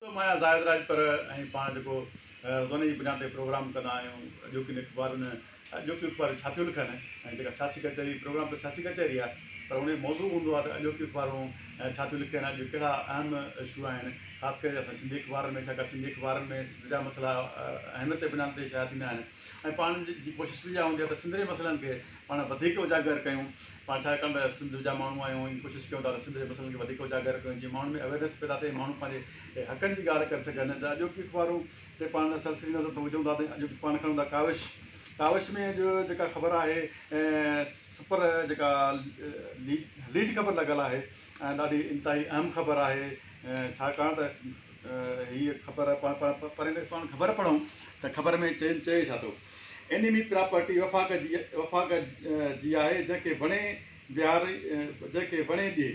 م آهيان زاهد راڄپر ۽ پاڻ جيڪو روزاني جي بنياد تي پروگرام ڪندا آهيون اڄوڪين اخبارن اڄوڪيون اخبارون ڇا ٿيون لکن ۽ جيڪا سياسي ڪچهري پروگرام ته سياسي ڪچهري آهي پر ان جو موضوع هوندو آهي ته اڄوڪيون اخبارون ڇا ٿيون لکن اڄ ڪهڙا اهم اشو آهن خاص ڪري اسان سنڌي اخبارن ۾ ڇاڪاڻ سنڌي اخبارن ۾ سنڌ جا مسئلا اهميت جي بنياد تي شايع ٿيندا آهن ۽ پاڻ جي ڪوشش به اها هوندي آهي ته سنڌڙي مسئلن کي پاڻ وڌيڪ اجاگر ڪيون پاڻ ڇاڪاڻ ته سنڌ جا ماڻهو آهيون ۽ ڪوشش ڪيون ٿا ته سنڌڙي مسئلن کي وڌيڪ اجاگر ڪيون جيئن ماڻهن ۾ اويرنس پيدا ٿئي ماڻهو پنهنجي حقن جي ڳالهه ڪري سگهن ته اڄوڪي اخبارون تي پاڻ سرسري نظر ٿا وجهون ٿا ته اڄوڪي پاڻ کڻون ٿا ڪاوش ڪاوش ۾ اڄ جيڪا خبر آهي سپر جيڪا ليڊ خبر لڳل آهي ۽ ڏاڍي انتهائي اهم خبر آهي ڇاڪاڻ ته هيء خبر پڙهندي خبر پڙهون ته خبر ۾ چين چئي ڇا ٿو. انيمي پراپرٽي وفاق جي وفاق جي آهي جنهن کي وڻي بهار جنهن کي وڻي ڏي.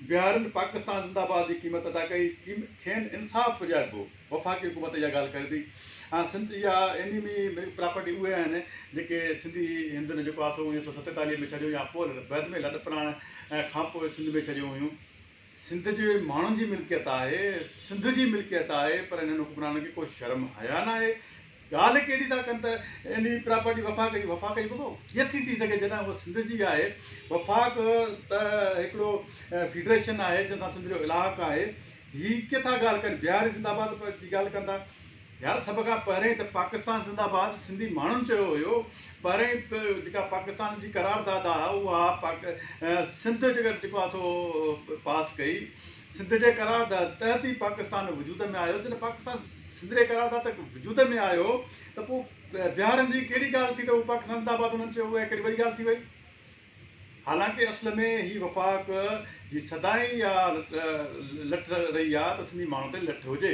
بهارين پاڪستان زنداباد جي قيمت ادا ڪئي کين انصاف ڏياربو. وفاقي حڪومت اها ڳالهه ڪري ٿي ۽ سنڌ جا ايني مي پراپرٽي اهي آهن جيڪي سنڌي هندن جيڪو آسو انيس سو ستيتاليهه ۾ ڇڏيو يا پول بعد ۾ لڏ پراڻ کانپوء سنڌ ۾ ڇڏيون هيون سنڌ جي ماڻهن جي ملڪيت آهي سنڌ جي ملڪيت آهي پر انهن حڪمرانن کي ڪو شرم حيا ناهي ڳالهه هڪ اهڙي ٿا ڪن ته انهي پراپرٽي وفاق جي وفاق جي ڀڳو ڪيئن ٿي ٿي سگهي جڏهن هوء سنڌ جي آهي وفاق ته هڪڙو فيڊريشن آهي جنهن سان سنڌ جو الحاق آهي هي ڪي ٿا ڳالهه ڪن بهاري زنده آباد جي ڳالهه ڪن ٿا يار سڀ کان پهرين ته پاڪستان زنده آباد سنڌي ماڻهن چيو هيو پهرين جيڪا پاڪستان جي قرار داد آهي اها پاڪ سنڌ جيڪا جيڪو آهي سو پاس ڪئي سنڌ جي قرارداد تحت ئي پاڪستان وجود ۾ آيو جڏهن پاڪستان سنڌ جي قرارداد تحت وجود ۾ آيو ته پوء بهارن جي ڪهڙي ڳالهه ٿي ته هو پاڪستان زنده آباد انهن چيو اها ڪهڙي وڏي ڳالهه ٿي وئي حالانڪه اصل ۾ هي وفاق جي سدائين اها لٺ رهي آهي ته سنڌي ماڻهن تي لٺ هجي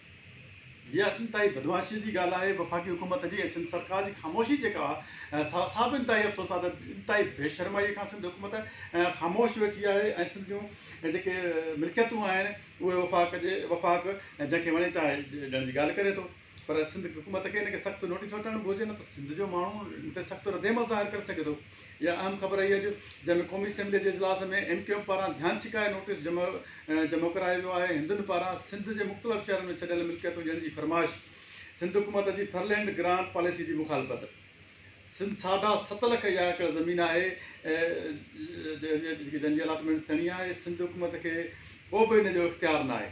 اها انتهائي بدمعاشيء جي ڳالهه آهي، وفاقي حڪومت جي ۽ سنڌ سرڪار جي خاموشي جيڪا آهي سا به انتهائي افسوس آهي ته انتهائي بي شرمائيء کان سنڌ حڪومت خاموش ويٺي آهي ۽ سنڌ جون جيڪي ملڪيتون آهن اهي وفاق جي وفاق جنهن کي وڻي چاهي ڏيڻ جي ڳالهه ڪري ٿو پر سنڌ حڪومت کي ان کي سخت نوٽيس وٺڻ گهرجي نه ته سنڌ جو ماڻهو ان تي سخت ردعمل ظاهر ڪري سگهي ٿو اها اهم خبر رهي اڄ جنهن ۾ قومي اسيمبلي جي اجلاس ۾ ايم ڪيو ايم پاران ڌيان ڇڪائي نوٽيس جمع ڪرايو ويو آهي هندن پاران سنڌ جي مختلف شهرن ۾ ڇڏيل ملڪيتون ڏيڻ جي فرمائش سنڌ حڪومت جي ٿرلينڊ گرانٽ پاليسي جي مخالفت سنڌ ساڍا ست لک اها ايڪڙ زمين آهي جنهن جي الاٽمينٽ ٿيڻي آهي سنڌ حڪومت کي ڪو به ان جو اختيار ناهي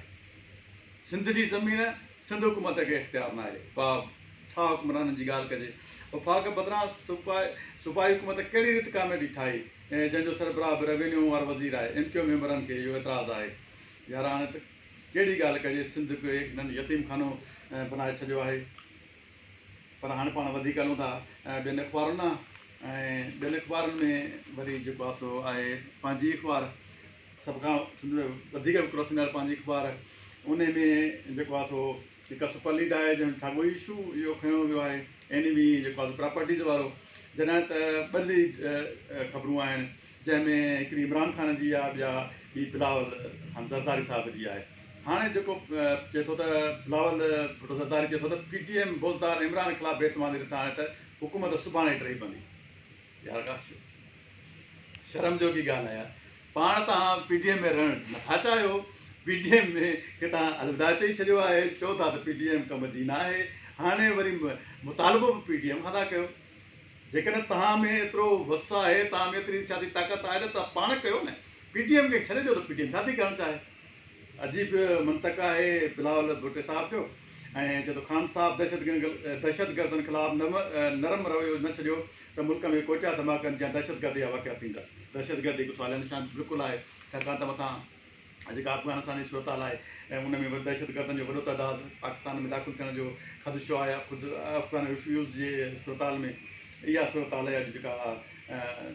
سنڌ جي زمين سنڌ حڪومت کي اختيار ناهي باب ڇا حڪمرانن جي ڳالهه ڪجي وفاق بدران صوبائي حڪومت ڪهڙي ريت ڪاميٽي ٺاهي جنهن جو سربراهه به ريونيو وارو وزير آهي ايم ڪيو ميمبرن کي اهو اعتراض آهي يار هاڻي ته ڪهڙي ڳالهه ڪجي سنڌ هڪ هيڪ ننڍ يتيم خانو بنائي ڇڏيو آهي پر هاڻي پاڻ وڌيڪ هلون ٿا ٻين اخبارن ڏانهن ۽ ٻين اخبارن ۾ وري جيڪو آسو آهي پنهنجي اخبار سڀ کان سنڌ ۾ وڌيڪ وڪرو ٿيندڙ پنهنجي اخبار ان ۾ جيڪو آهي سو هڪ سپر ليڊ آهي جنهن ۾ ساڳيو ئي اشو اهو کڻيو ويو آهي اين وي جيڪو آهي سو پراپرٽيز وارو جڏهن ته ٻه ليڊ خبرون آهن جنهن ۾ هڪڙي عمران خان جي آهي ٻيا ٻي بلاول خان زرداري صاحب جي آهي هاڻي جيڪو چئي ٿو ته بلاول ڀٽو زرداري چئي ٿو ته P T M Buzdar Imran خلاف بي اعتمادي رٿا آهي ته حڪومت سڀاڻي ٽهي پوندي يار ڪا شرم جوڳي ڳالهه آهي يار پاڻ توهان پي ڊي ايم ۾ رهڻ نٿا چاهيو پي ڊي ايم ۾ کي توهان الوداع چئي ڇڏيو آهي چئو ٿا ته پي ڊي ايم ڪم جي ناهي هاڻي وري مطالبو به پي ڊي ايم کان ٿا ڪيو جيڪڏهن توهان ۾ ايترو وس آهي توهان ۾ ايتري سياسي طاقت آهي ته توهان پاڻ ڪيو نه پي ڊي ايم کي ڇڏي ڏيو ته پي ڊي ايم ڇاٿي ڪرڻ چاهي عجيب منطق آهي بلاول ڀٽي صاحب جو ۽ جدو خان صاحب دهشت دهشت گردن خلاف نرم رويو نه ڇڏيو ته ملڪ ۾ ڪوئٽا ڌماڪن جيان دهشتگردي جا واقعا ٿيندا. دهشتگردي هڪ سواليه نشان بلڪل آهي، ڇاڪاڻ ته مٿان جيڪا افغانستاني صورتحال آهي ۽ ان ۾ دهشتگردن جو وڏو تعداد پاڪستان ۾ داخل ٿيڻ جو خدشو آهي يا خود افغان ريفيوز جي صورتحال ۾ اها صورتحال آهي اڄ جيڪا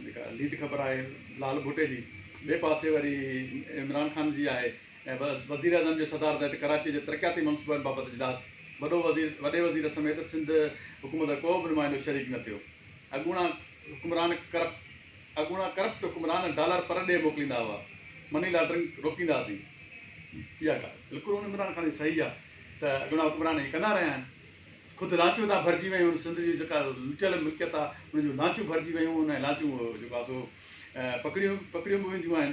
جيڪا ليڊ خبر آهي لال ڀٽي جي ٻئي پاسي وري عمران خان جي آهي وزيراعظم جي صدارت هيٺ ڪراچي جي ترقياتي منصوبن بابت اجلاس، وڏو وزير، وڏي وزير سميت سنڌ حڪومت جو ڪو به نمائندو شريڪ نه ٿيو، اڳوڻا حڪمران ڪرپٽ اڳوڻا ڪرپٽ حڪمران ڊالر پر ڏي موڪليندا هئا، مني لانڊرنگ روڪينداسين، اها ڳالهه بلڪل ان عمران خان جي صحيح آهي ته اڳوڻا حڪمران ائين ڪندا رهيا آهن، خود لانچون هتان ڀرجي ويون آهن، سنڌ جي جيڪا لٽيل ملڪيت آهي ان جون لانچون ڀرجي ويون آهن ۽ لانچون جيڪو آهي سو پڪڙيون پڪڙيون به وينديون آهن.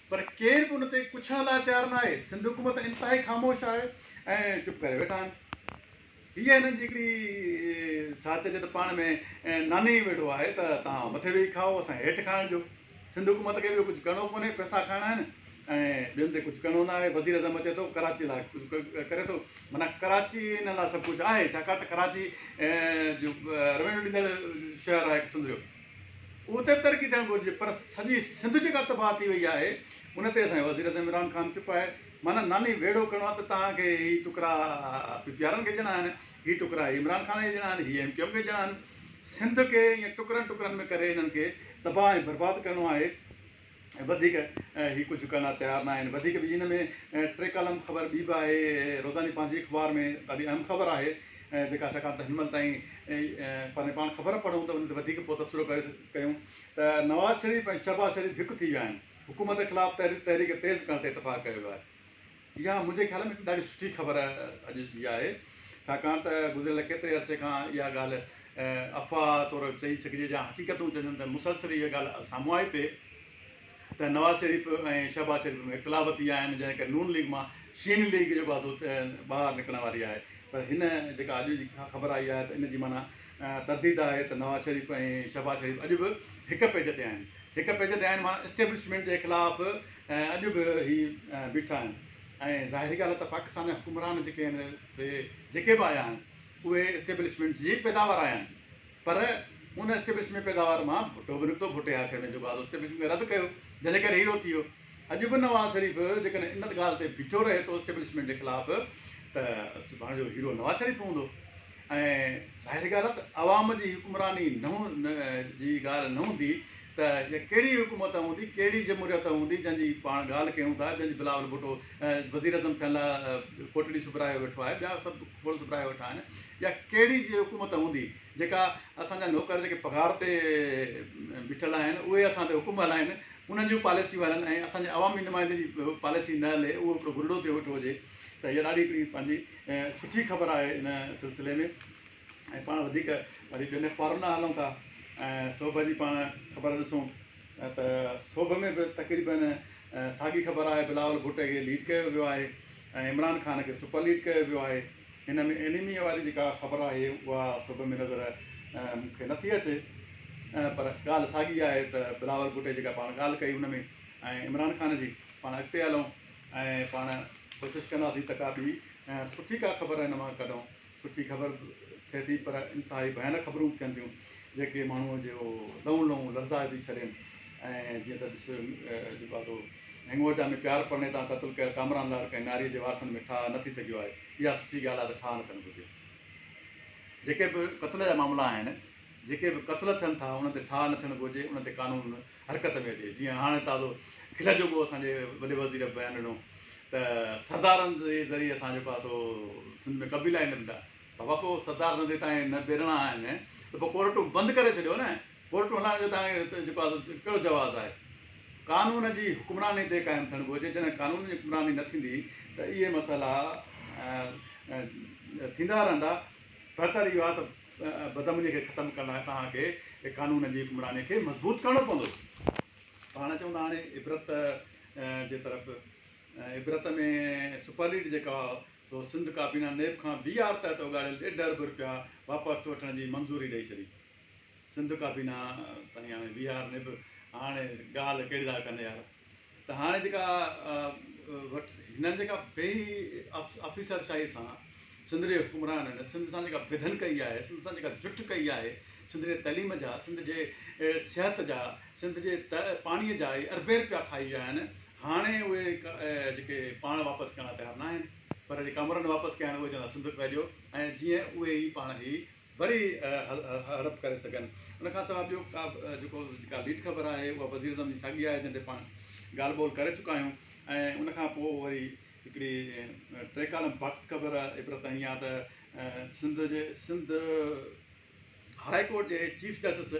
پر ڪير به ان تي پڇڻ لاء تيار نه آهي. سنڌ حڪومت انتهائي خاموش آهي ۽ چپ ڪري ويٺا آهن. هيء هنن جي هڪڙي ڇا چئجي ته پاڻ ۾ ناني ئي ويڙهو آهي ته توهان مٿي ويهي کائو اسان کي هيٺ کائڻ ڏيو. سنڌ حڪومت کي ٻيو ڪجهه ڪرڻو ڪونهي پئسا کائڻا آهن ۽ ٻين تي ڪجهه ڪرڻو نه آهي. وزير اعظم اچي ٿو ڪراچي لاء ڪجهه ڪري ٿو معنيٰ ڪراچي هن لاء سڀ ڪجهه آهي ڇاڪاڻ ته ڪراچي جو روينيو ڏيندڙ شهر آهي هڪ سنڌ جو. اهو ته ترقي ٿيڻ گهرجي پر سڄي سنڌ جيڪا تباهه ٿي وئي آهي ان تي اسان جو وزيراعظم عمران خان چپ آهي معنيٰ ناني ويڙهو ڪرڻو آهي ته توهان کي هي ٽڪرا پي پي آرن کي ڏيڻا آهن هي ٽڪرا هي عمران خان کي ڏيڻا آهن هي ايم ڪيو ايم کي ڏيڻا آهن سنڌ کي ايئن ٽڪرن ٽڪرن ۾ ڪري انهن کي تباهه ۽ برباد ڪرڻو آهي وڌيڪ هي ڪجهه ڪرڻ لاء تيار ناهن وڌيڪ به ان ۾ ٽي ڪالم خبر ٻي به آهي روزاني پنهنجي اخبار ۾ ڏاڍي اهم خبر آهي جيڪا ڇاڪاڻ ته هن مهل تائين پنهنجي پاڻ خبر پڙهون ته ان تي وڌيڪ پوء تبصرو ڪري ڪيون ته نواز شريف ۽ شهباز شريف هڪ ٿي ويا آهن حڪومت خلاف تحريڪ تيز ڪرڻ تي اتفاق ڪيو ويو آهي اها منهنجي خيال ۾ هڪ ڏاڍي سٺي خبر اڄ جي آهي ڇاڪاڻ ته گذريل ڪيتري عرصي کان اها ڳالهه افواهه طور چئي سگهجي يا حقيقتون چئجن ته مسلسل اها ڳالهه سامهون آئي پئي ته نواز شريف ۽ شهباز شريف ۾ اختلاف ٿي ويا آهن جنهن ڪري نون ليگ مان شين ليگ جيڪو آهي سو ٻاهر نڪرڻ واري آهي پر هن جيڪا اڄ جي خبر آئي آهي ته ان جي معنيٰ ترديد آهي ته نواز شريف ۽ شهباز شريف اڄ به هڪ پيج تي آهن هڪ پيج تي آهن معنيٰ اسٽيبلشمينٽ جي خلاف ۽ اڄ به هي بيٺا آهن ۽ ظاهري ڳالهه ته پاڪستان جا حڪمران جيڪي آهن سي جيڪي به آيا آهن اهي اسٽيبلشمينٽ جي ئي پيداوار آيا آهن پر ان اسٽيبلشمينٽ پيداوار مان ڀٽو به نڪتو ڀٽي هٿ ۾ جو بعد اسٽيبلشمينٽ کي رد ڪيو جنهن جي ڪري هي روتي هيو اڄ به نواز شريف جيڪڏهن ان ڳالهه تي بيٺو رهي ٿو اسٽيبلشمينٽ جي خلاف ته سڀاڻي جو هيرو نواز شريف هوندو ۽ ظاهري ڳالهه ته عوام جي حڪمراني نه جي ڳالهه نه هوندي ته اها ڪهڙي حڪومت هوندي، ڪهڙي جمهوريت هوندي جنهن جي پاڻ ڳالهه ڪيون ٿا، جنهن جي بلاول ڀٽو وزيراعظم ٿيڻ لاء ڪوٽڙي سبرايو ويٺو آهي، ٻيا سڀ کوڙ سبرايا ويٺا آهن، اها ڪهڙي حڪومت هوندي جيڪا اسان جا نوڪر جيڪي پگهار تي بيٺل آهن اهي اسان تي حڪم هلائين، انهن جون پاليسيون هلن ۽ اسان جي عوامي نمائندن جي پاليسي نه هلي، اهو هڪڙو گرڙو ٿيو ويٺو هجي ته اها ڏاڍي هڪڙي پنهنجي سٺي خبر آهي ان سلسلي ۾. ۽ پاڻ وڌيڪ وري ٻين اخبارن ڏانهن هلون ٿا ۽ سوڀ جي پاڻ خبر ڏسون ته سوڀ ۾ به تقريبن ساڳي خبر آهي بلاول ڀٽي کي ليڊ ڪيو ويو آهي ۽ عمران خان کي سپر ليڊ ڪيو ويو آهي هن ۾ اينيميا واري جيڪا خبر آهي اها سوڀ ۾ نظر مون کي نٿي اچي پر ڳالهه ساڳي آهي ته بلاول ڀٽي جيڪا پاڻ ڳالهه ڪئي هن ۾ ۽ عمران خان جي پاڻ اڳتي هلون ۽ پاڻ ڪوشش ڪنداسين ته ڪا ٻي سٺي ڪا خبر هن مان ڪڍون سٺي خبر ٿئي ٿي پر انتهائي ڀيانڪ خبرون به ٿين ٿيون جيڪي ماڻهوء جو لئون لئون لرزائي ٿي ڇڏين ۽ جيئن ته ڏس جيڪو آهي سو هنڱوچا ۾ پيار پڙني تان قتل ڪيل ڪامران لاڙ ڪنهن ناريء جي وارثن ۾ ٺاهه نه ٿي سگهيو آهي اها سٺي ڳالهه آهي ته ٺاهه نه ٿيڻ گهرجي جيڪي به قتل جا معاملا آهن جيڪي به قتل ٿين ٿا انهن تي ٺاهه نه ٿيڻ گهرجي انهن تي قانون حرڪت ۾ اچي جيئن هاڻي تازو کل جوڳو اسان جي وڏي وزير بيان ڏنو ته سردارن جي ذريعي اسان جو پاسو سنڌ ۾ قبيلا ئي نه ڏندا بابا پوء سردار نه ڏي تانئين نه ڏيڻا آهن ته پوء ڪورٽون بند ڪري ڇڏيو نه ڪورٽون هلائڻ جو تانئين جيڪو آهي ڪهڙو جواز آهي قانون جي حڪمراني تي قائم ٿيڻ گهرجي جڏهن قانون جي حڪمراني نه ٿيندي ته اهي مسئلا ٿيندا رهندا بهتر اهو آهي ته بدامنيء کي ختم ڪرڻ لاء توهان کي قانون جي حڪمرانيء کي مضبوط ڪرڻو پوندو. پاڻ چون ٿا هاڻي عبرت جي طرف عبرت ۾ سپرليڊ جيڪا سو سنڌ ڪابينا نيب کان بي آر تحت اوڳاڙيل ڏيڍ ارب رپيا واپس وٺڻ جي منظوري ڏئي ڇڏي سنڌ ڪابينا سائين هاڻي بي آر نيب هاڻي ڳالهه ڪهڙي ٿا ڪن يار. ته هاڻي جيڪا وٽ هنن جيڪا بي آفيسر شاهي سان سنڌ جي حڪمرانن سنڌ سان جيڪا ويڌن ڪئي آهي سنڌ سان جيڪا جٺ ڪئي آهي سنڌ جي تعليم جا سنڌ جي صحت جا سنڌ جي پاڻي جا اهي اربين رپيا کائي ويا آهن هاڻي اهي جيڪي پاڻ واپس ڪرڻ لاء تيار ناهن پر جيڪا امرن واپس ڪيا آهن اهي چوندا سنڌ ڦهليو ۽ جيئن اهي ئي پاڻ هي وري هڙپ ڪري سگهن. ان کان سواء ٻيو ڪا به جيڪو جيڪا ليڊ خبر آهي اها وزيراعظم جي ساڳي آهي جنهن تي پاڻ ڳالهه ٻولهه ڪري چڪا آهيون ۽ ان کان پوء وري هڪڙي ٽي ڪالم باڪس خبر عبرت ائين آهي ته سنڌ جي سنڌ هاء ڪورٽ جي چيف جسٽس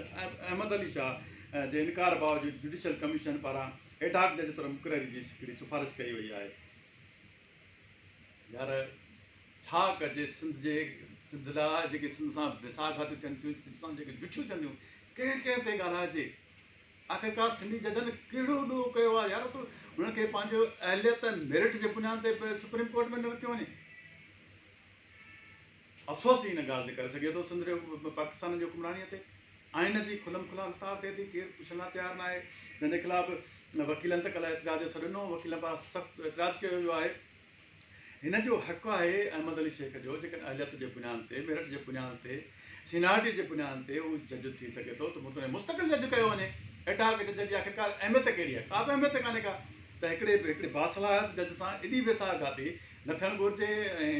احمد علي شاهه جي انڪار باوجود جوڊيشل ڪميشن پاران ايڊهاڪ جج طور مقرري جي هڪڙي سفارش ڪئي وئي آهي. يار ڇا ڪجي سنڌ جي سنڌ لاء جيڪي سنڌ سان بيساهه گهاتيون ٿين ٿيون سنڌ سان جيڪي جٺيون ٿين ٿيون ڪنهن ڪنهن تي ڳالهائجي آخرڪار سنڌي ججن ڪهڙو ڏوهه ڪيو آهي يار تو هنن کي پنهنجو اهليت ۽ ميرٽ جي بنياد تي سپريم ڪورٽ ۾ نه رکيو وڃي افسوس جي ان ڳالهه تي ڪري سگهجي ٿو ته سنڌ ۾ پاڪستان جي حڪمرانيء تي آئين جي کلم کلا لتاڙ ٿئي ٿي، ڪير پڇڻ لاء تيار ناهي، جنهن جي خلاف وڪيلن ته ڪلهه احتجاج جو سڏ ڏنو، وڪيلن پاران سخت احتجاج ڪيو ويو آهي. هن جو حق آهي احمد علي شيخ جو جيڪڏهن اهليت جي بنياد تي، ميرٽ جي بنياد تي، سينارٽي جي بنياد تي هو جج ٿي سگهي ٿو ته متنوع مستقل جج ڪيو وڃي، ايڊهاڪ جج جي آخرڪار اهميت ڪهڙي آهي، ڪا به اهميت ڪانهي ڪا ته هڪڙي هڪڙي باصلاحيت جج سان ايڏي ويساهه گهاتي نه ٿيڻ گهرجي ۽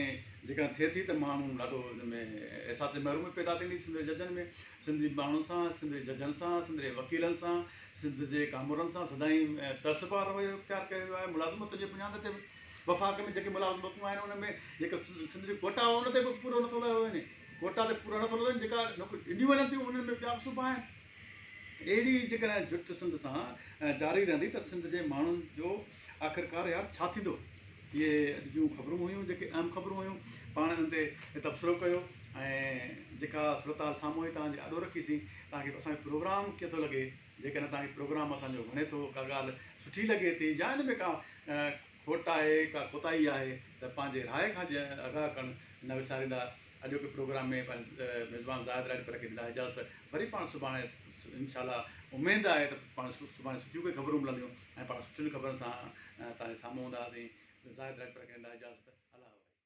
جيڪڏهن ٿئي ٿي ته ماڻهو ڏاڍو ان ۾ احساس محرومي پيدا ٿيندي سنڌ جي ججن ۾ سنڌي ماڻهن سان سنڌ جي ججن سان سنڌ جي وڪيلن سان سنڌ جي ڪامورن سان سدائين تعصب وارو رويو اختيار ڪيو ويو آهي ملازمتن جي بنياد تي به وفاق ۾ جيڪي ملازمتون آهن ان ۾ جيڪا سنڌ جو ڪوٽا ان تي به پورو نٿو لڳو وڃي ڪوٽا تي پورا نٿو لڳو وڃي جيڪا نوڪريون ڏنيون وڃن ٿيون انهن ۾ ٻيا به صوبا آهن اهڙي جيڪڏهن جٺ سنڌ سان جاري رهندي ته سنڌ جي ماڻهن جو آخرڪار يار ڇا ٿيندو؟ اهي اڄ جون خبرون هيون جيڪي اهم خبرون هيون. پاڻ انهن تي تبصرو ڪيو ۽ جيڪا صورتحال سامهون آئي توهان جي آڏو رکيسين. توهان کي اسان جو پروگرام ڪيئن ٿو لڳي؟ جيڪڏهن توهان کي پروگرام اسان جو وڻي ٿو، ڪا ڳالهه سٺي لڳي ٿي يا ان ۾ ڪا کوٽ آهي، ڪا ڪوتاهي آهي ته پنهنجي راء کان آگاهه ڪرڻ نه وساريندا. اڄوڪي پروگرام ۾ پنهنجي ميزبان زاهد راڄپر کي ڏيندا اجازت. وري پاڻ سڀاڻي انشاء الله اميد آهي ته پاڻ سڀاڻي سٺيون ڪي خبرون ملنديون. ۽ پاڻ سٺين خبرن سان توهان جي سامهون هوندا هئاسين زاهد ڊائريڪٽر کي ندا اجازت الله حوالي.